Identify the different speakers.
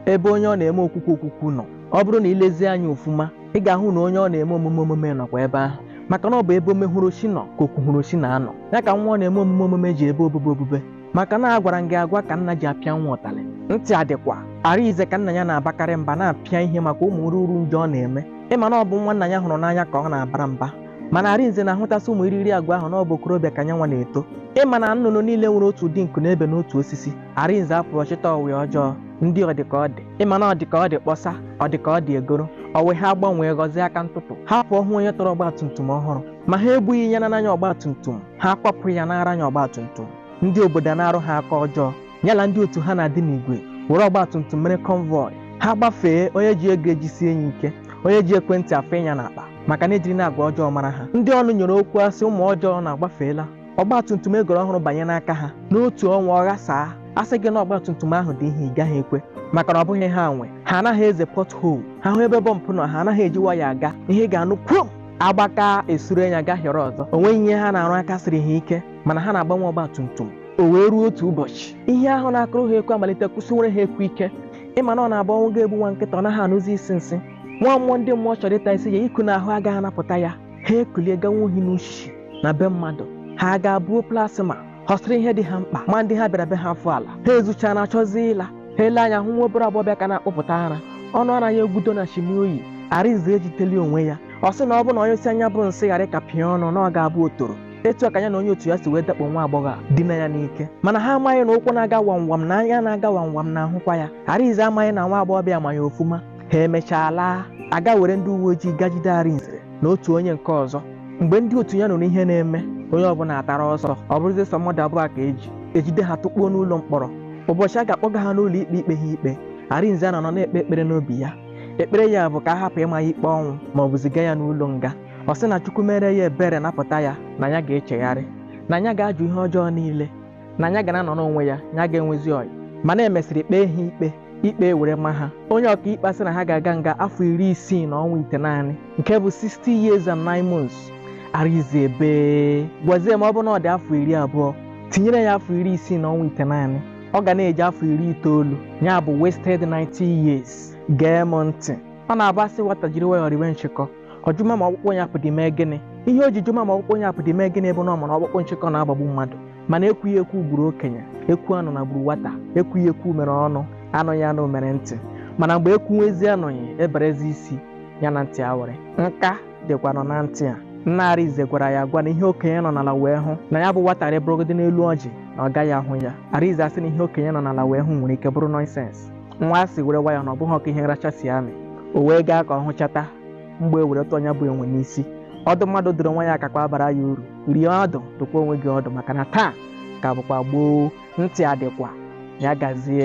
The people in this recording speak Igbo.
Speaker 1: ebe onye ọ na-eme okwukwu okwukwu nọ ọ bụrụ na i lezie anya ofuma ị ga-ahụ na onye ọ na-eme omume omume nọkwa ebe ahụ maka na ọ bụ ebe omehurochi nọ ka okwuhurochi na-anọ ya ka nwa ọ na-eme omume omume ji ebe obube obube maka na agwara m gị agwa ka nna ji apịa nwa ụtalị ntị adịkwa arinze ka nna ya na-abakarị mba na-apịa ihe maka ụmụ ruru njọ ọ na-eme ịma na ọ bụ nwa nna ya hụrụ n'anya ka ọ na-abara mba mana arinze na-ahụtasị ụmụ iriri agwa ahụ na ọ bụ okorobịa ka nyanwa na-eto ịma na nnụnụ niile nwere otu ụdị nku na-ebe n'otu osisi Arinze apụrụ ọ chịta ọyị ọjọọ ndị ọdịka ọ dị ịma na ọdịka ọ dị kpọsa ọdịka ọ dị egoro ọyị ha agbanwee ghọzie aka ntụtụ ha pụọ hụ onye tọrọ ọgbatumtum ọhụrụ ma ha egbughị onye na-anya ọgbatumtum ha akwapụ ya nara ya ọgbatumtum ndị obodo ana-arụ ha aka ọjọọ ya na ndị otu ha na-adị n'igwe were ọgbatumtum mere convoy ha gbafee onye ji ego ejisie ya ike onye ji ekwentị afọnye ya n'akpa maka na ejiri na agwa ọjọọ mara ha ndị ọnụ nyere okwu asị ụmụ ọjọọ na-agbafeela ọgba tum tum egoro ọhụrụ banye n'aka ha n'otu ọnwa ọ ghasaa a sị gị na ọgba tum tum ahụ dị ihe ị gaghị ekwe maka na ọ bụghị ha nwe ha anaghị eze pothole ha hụ ebe bọmpụ nọ ha anaghị eji nwayọ aga ihe ị ga-anụ kwum agbaka esuru anya gahiọrọ ọzọ o nweghị ihe ha na-arụ aka siri ha ike mana ha na-agbanwe ọgba tum tum o wee ruo otu ụbọchị ihe ahụ na-akụrụ ha ekwe amalite kụsiwere ha ekwe ike ịma na ọ na-abụ ọnwụ ga-egbu nwa nkịta ọ naghị anụzi isi nsị nwa mmụọ ndị mmụọ chọrọ ịta isi ya iku n'ahụ agaghị anapụta ya ha ekulie gawa ohi n'uchichi na be mmadụ ha aga buo plasma họsịrị ihe dị ha mkpa ma ndị ha bịara be ha afọ ala ha ezuchaa na-achọzi ịla ha ele anya hụ nwa obere agbọghọbịa ka na-akpụpụta ara ọnụ ara ya egbudo na shimi o yi arinze ejiteli onwe ya ọ sị na ọ bụ na ọ nyụsịa nya bụ nsị ghara ka pịa ọnụ na ọ ga-abụ otoro etu a ka ya na onye otu ya si wee dakpo nwa agbọghọ a dinaa ya n'ike mana ha amaghị na ụkwụ na-aga wamwam na anya na-aga wamwam na-ahụkwa ya arinze amaghị na nwa agbọghọbịa ma ya ofuma ha emechaa laa aga were ndị uwe ojii ga jide arinze na otu onye nke ọzọ mgbe ndị otu ya nụrụ ihe na-eme onye ọbụla atara ọsọ ọ bụrụzi sọ mmadụ abụọ ka eji ejide ha tụkpuo n'ụlọ mkpọrọ ụbọchị a ga-akpọga ha n'ụlọ ikpe ikpe ha ikpe arinze anọrọ na-ekpe ekpere n'obi ya ekpere ya bụ ka a hapụ ịma ya ikpe ọnwụ ma ọ bụ ziga ya n'ụlọ nga ọ sị na chukwu meere ya ebere napụta ya na ya ga-echegharị na ya ga-ajụ ihe ọjọọ niile na ya ga na-anọrọ onwe ya ya agaghị enwezi ọyị mana emesịrị kpee ha ikpe ikpe were ma ha onye ọkaikpe sị na ha ga-aga nga afọ iri isii na ọnwa itenaanị nke bụ 60 years and 9 months arinze ebee gwazie m ọ bụ na ọ dị afọ iri abụọ tinyere ya afọ iri isii na ọnwa itenaanị ọ ga na-eji afọ iri itoolu ya bụ wasted 90 years gee m ntị ọ na-abụ asị nwata jiri nwayọọ riwe nchịkọ ọ jụma ma ọkpụkpụ onye apụdị mee gịnị ihe o ji jụma ma ọkpụkpụ onye apụdị mee gịnị bụ na ọ maghị na ọkpụkpụ nchịkọ na-agbagbu mmadụ mana ekwughị ekwu gburu okenye ekwu anụna gburu nwata ekwughị ekwu mere ọnụ anụghị anụ mere ntị mana mgbe ekwuwezi anụghị eberezi isi ya na ntị ayịrị nka dịkwa nọ na ntị a nna Arinze gwara ya agwa na ihe okenye nọ n'ala wee hụ na ya bụ nwata rịgorogodi n'elu ọjị na ọ gaghị ahụ ya Arinze asị na ihe okenye nọ n'ala wee hụ nwere ike bụrụ nonsense nwa si were wayọ na ọ bụghị ka ihe nracha si amị o wee gaa ka ọ hụchata mgbọ ewere tụọ nya bụ enwe n'isi ọdụ mmadụ dụrụ onwe ya akakwa abara ya uru rie ọdụ dụkwa onwe gị ọdụ maka na taa ka bụkwa gboo ntị adịkwa ya gazie